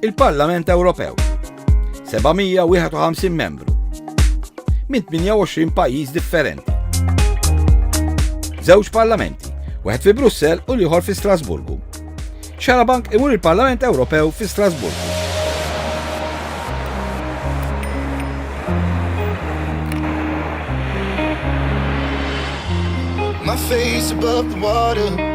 Il-Parlament Ewropew 751 membru minn 28 pajjiż differenti. Żewġ parlamenti, wieħed fi Brussell u l-ieħor fi Strasburgu. Xarabank imur il-Parlament Ewropew fi Strasburgu. My face above the water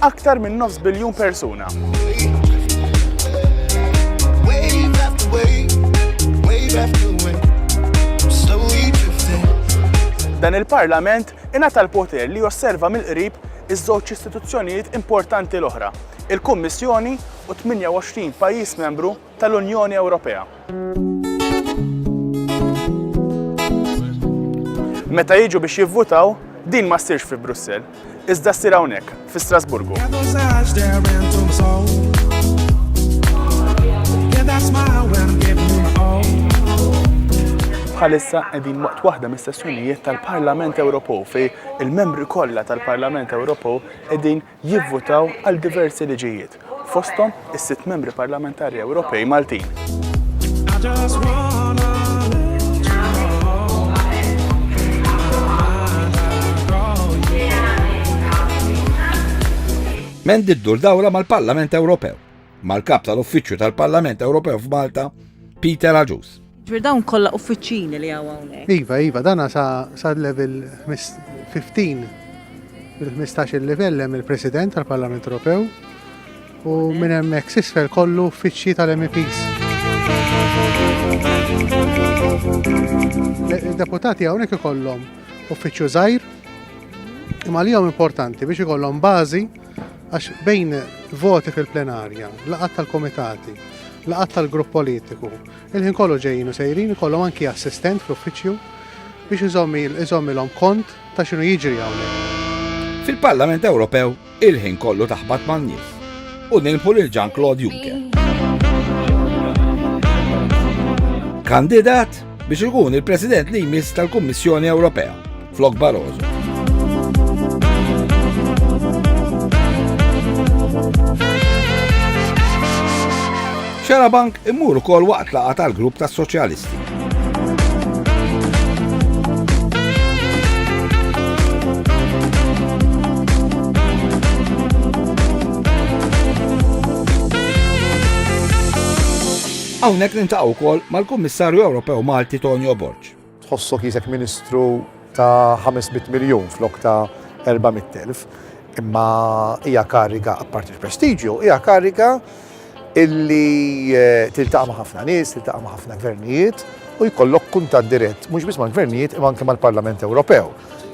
aktar minn nofs biljun persuna. Dan il-Parlament ingħata l-poter li josserva mill-qrib iż-żewġ istituzzjonijiet importanti l-oħra, il-Kummissjoni u 28 pajjiż membru tal-Unjoni Ewropea. Meta jiġu biex jivvutaw, din ma ssirx fi Brussell, iżda ssir hawnhekk, fi Strasburgu. bħalissa qegħdin waqt waħda mis-sessjonijiet tal-Parlament Ewropew fej il-membri kollha tal-Parlament Ewropew qegħdin jivvutaw għal diversi liġijiet, fosthom is-sitt Membri Parlamentari Ewropej Maltin. Mendy ddur dawra mal-Parlament Ewropew. mal-Kap tal-Uffiċċju tal-Parlament Ewropew f'Malta, Peter Agius. Ġbir dawn kollha uffiċċini li hawn hawnhekk. Iva, iva, dana sa, sa level 15 il-15 il-livell hemm il-President tal-Parlament Ewropew u minn hemmhekk sisfel kollu uffiċċji tal-MEPs. Deputati hawnhekk ikollhom uffiċċju żgħir imma li importanti biex ikollhom bażi Għax bejn voti fil-plenarja, laqat tal-komitati, laqat tal-grupp politiku, il-ħin kollu ġejjin u sejrin kollu anki assistent fl-uffiċċju biex iżommilhom kont ta' xinu jiġri hawnhekk. Fil-Parlament Ewropew il-ħin kollu taħbat man-nies u nilħu lil Jean Claude Juncker. Kandidat biex ikun il-President li jmiss tal-Kummissjoni Ewropea Flok Barroso. Xarabank imur ukoll waqt laqa tal-grupp tas-Soċjalisti. Hawnhekk nintaqgħu wkoll mal-Kummissarju Ewropew Malti Tonio Borg. Tħossok qisek Ministru ta' 500 miljun flok ta' 400,000, imma hija kariga, apparti l-prestiġju, hija kariga illi eh, tiltaqa' ma' ħafna nies, tiltaqa' ma' ħafna gvernijiet u jkollok kuntat dirett mhux biss mal-gvernijiet imma anke mal-Parlament Ewropew.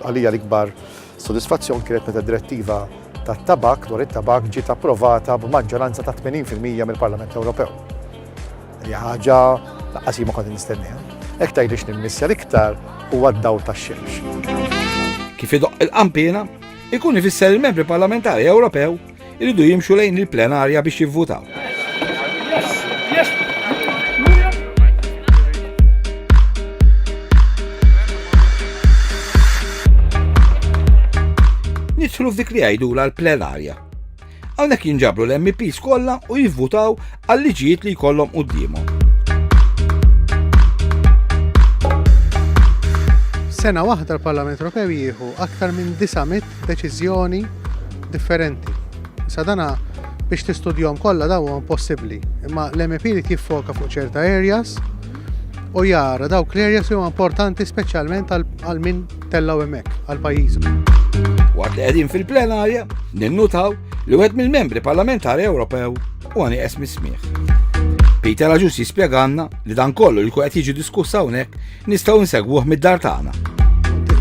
Għalija l-ikbar sodisfazzjon kienet meta direttiva tat-tabak dwar it-tabak ġiet approvata b'maġġoranza ta' 80% mill-Parlament Ewropew. Li ħaġa laqqas ma kont nistenniha. Hekk tgħidix nimmissja l-iktar huwa d-daw tax-xemx. Kif idoq il-qampina, ikun ifisser il-membri parlamentari Ewropew iridu jimxu lejn il-plenarja biex jivvutaw. Nidħlu f'dik li għajdu l-plenarja Hawnhekk jinġabru l-MPs kollha u jivvutaw għal liġijiet li jkollhom quddiemhom. Sena waħda l-Parlament Ewropew jieħu aktar minn 900 deċiżjoni differenti. Sadana biex tistudjom kollha daw huwa impossibbli, imma l-MP li tiffoka fuq ċerta areas u jara dawk l-areas huma importanti speċjalment għal min tellgħu hemmhekk għal pajjiżu. Waqt li qegħdin fil-plenarja, ninnutaw li wieħed mill-membri parlamentari Ewropew u għani esmi smieħ. Peter Aġus jispjeganna li dan kollu li qed jiġi diskussa hawnhekk nistgħu nsegwuh mid-dar tagħna.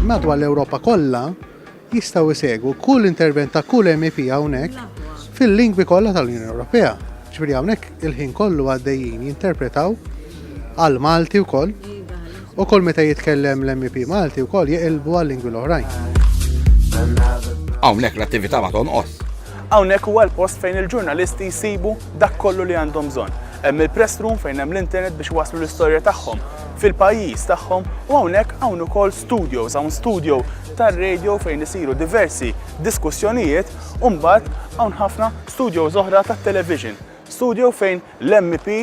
Madwar l-Ewropa kollha jistgħu jsegwu kull intervent ta' kull MEP hawnhekk fil-lingwi kollha tal-Unjoni Ewropea. Ġifieri hawnhekk il-ħin kollu għaddejjin jinterpretaw għal Malti wkoll Ukoll meta jitkellem l-MEP Malti wkoll jeqilbu għal-lingwi l-oħrajn. Hawnhekk l-attività ma tonqos. Hawnhekk huwa l-post fejn il-ġurnalisti jsibu dak kollu li għandhom bżonn. Hemm il-press room fejn hemm l-internet biex waslu l-istorja tagħhom fil-pajjiż tagħhom u hawnhekk hawn ukoll studios, hawn studio tar-radio fejn isiru diversi diskussjonijiet u mbagħad hawn ħafna studios oħra tat-television. Studio fejn l-MP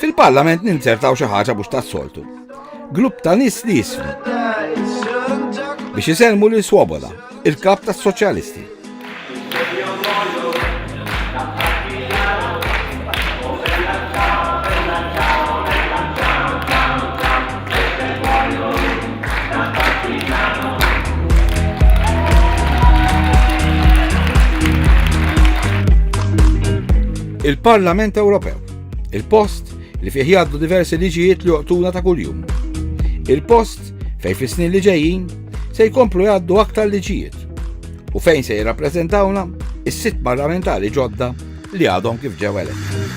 Fil-parlament ninzertaw xi ħaġa mhux tas-soltu. Grupp ta' nies li jismu. Biex iselmu li Swoboda, il-kap tas-soċjalisti. il-Parlament Ewropew. Il-post li fih jgħaddu diversi liġijiet li joqtuna ta' kuljum. Il-post fejn fis-snin li ġejjin se jkomplu jgħaddu aktar liġijiet u fejn se jirrappreżentawna is-sitt parlamentari ġodda li għadhom kif ġew eletti.